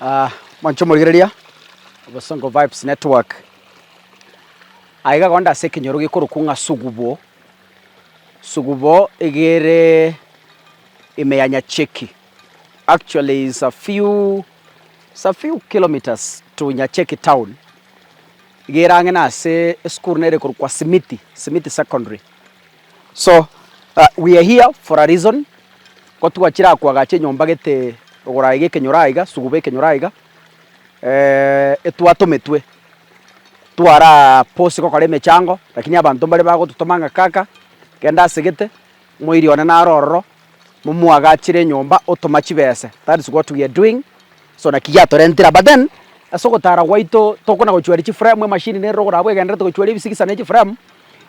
Ah, mwancho morigereria obosongo vibes network aiga gokenda ase ekenyoro gekorokwa ng'a sugubo Sugubo egere ime ya Nyacheki. Actually it's a few, it's a few kilometres to Nyacheki town. Egere ang'e na ase esukuru nere korwa kwa Simiti, Simiti Secondary. So uh, we are here for a reason. Ko twachire akwagacha enyomba gete ogoraye gekenyoro aiga, sugubo ekenyoro aiga. etwatometwe twarabose gokora emechango, lakini abanto mbare bagototoma ng'a kaka genda ase gete, moiri one naro ororo, momoagachere enyomba otoma chibese, that is what we are doing, so naki giatorentire aba then, ase ogotara gwaito tokona gochweri chifremu, emashini neroro ogorabwo egendererete gochweri ebisigisa na echifremu,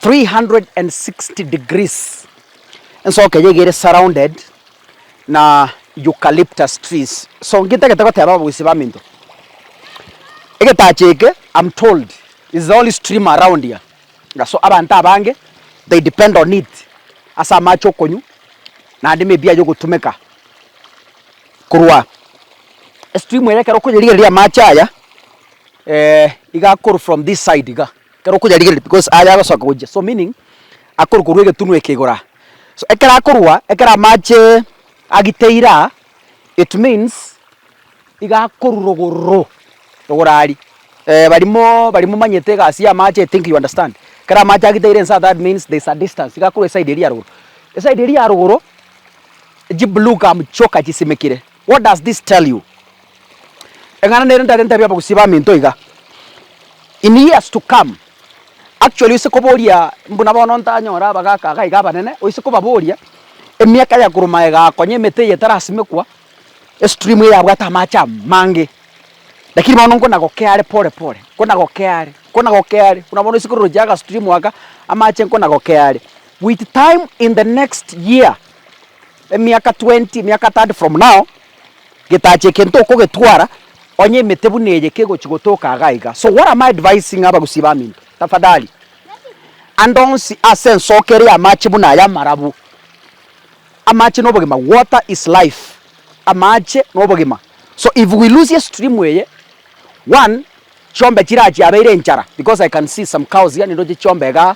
360 degrees, ensoka eye iga ere surrounded na eucalyptus trees, so ngintagete goteba abagusii baminto, egetacho eke am told is the only stream around here, so abanto abange they depend on it ase amache okonywa naende maybe aya ogotumeka korwa estream eye ekero okoyerigereria amache aya iga akoro from this side iga. Ekero okoyarigereria because aye agosoka gochia so meaning akorwa korwa egetunu eke igoro aa so ekero akorwa ekero amache agiteire aa it means iga akorwa rogoro rogoro aria eh barimo barimo omanyete egasi ya amache I think you understand ekero amache agiteire inse aa that means there is a distance iga akorwa eside eria ya rogoro eside eria ya rogoro chiblue gum chioka chisimekire. What does this tell you? Eng'ana nere ndare ntabie abagusii baminto iga. In years to come, actually oise koboria mbuna bono ntanyore abagaka iga iga abanene, oise kobaboria emiaka ya korwa maega akonya emete eye etarasimekwa, estream eye yabwate amache amange, lakini bono nkona gokea are pore pore, nkona gokea are, nkona gokea are, buna bono oise kororochia aga stream aka, amache nkona gokea are. With time in the next year. Emiaka twenty, emiaka thirty from now, getache eke ntokogetwara onye emete buna eye kegochi gotoka iga iga. So what am I advising abagusii baminto? Tafadhali, ande onsi ase ensoke ere y'amache buna aya amarabu. Amache nobogima, water is life, amache nobogima. So if we lose estream eye, one, Chiombe chiria chiabeire enchara because I can see some cows here nindoche chiombe igaa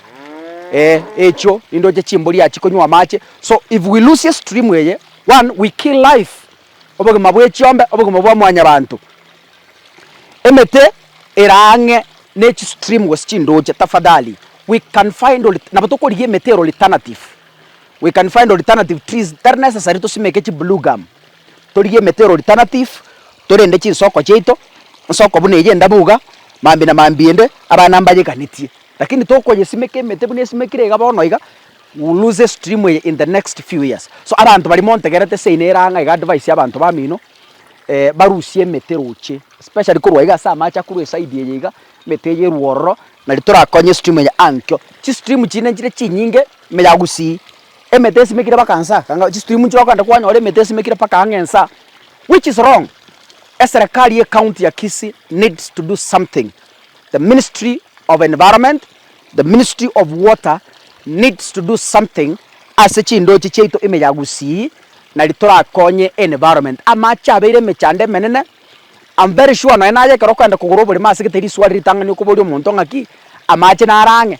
eeh echio nindoche chimbori aa chikonywa amache so if we lose stream eye one we kill life obogima bwe chiombe obogima bwa mwanyabanto emete eraa ang'e ne chi stream gose chindoche tafadhali we can find olt nabo tokorigia emete ere oltanative we can find oltanative trees tari necessary tosimeke chi blue gum. Torigie emete ero alternative, torende chinsoko chiaito, nsoko buna eyio endabu iga, mambia na mambia ende, abana mbayeganetie. Lakini tokoyesimeka emete buna esimekire iga bono iga, you will lose stream eye in the next few years. So abanto baria montegerete seino ere ang'e iga advice y'abanto bamino, barusie emete roche, especially korwa iga ase amache akorwa eside eye iga, emete eye erwe ororo, nari torakonye stream eye ankio. Chistream chinde nchire chinyinge, ime ya Gusii, emete esimekire mpaka nsa kanga chistream nchire okogenda kwanyora emete esimekire mpaka ang'e nsa which is wrong. Eserekari ye county ya Kisii needs to do something, the ministry of environment, the ministry of water needs to do something ase chindoche chiaito ime ya Gusii nari torakonye environment. Amache abeire emechando emenene, am very sure nonye naye ekero okogenda kogora oboremo asegete riswa riritang'ani okoboria omonto ng'aki amache naro ang'e.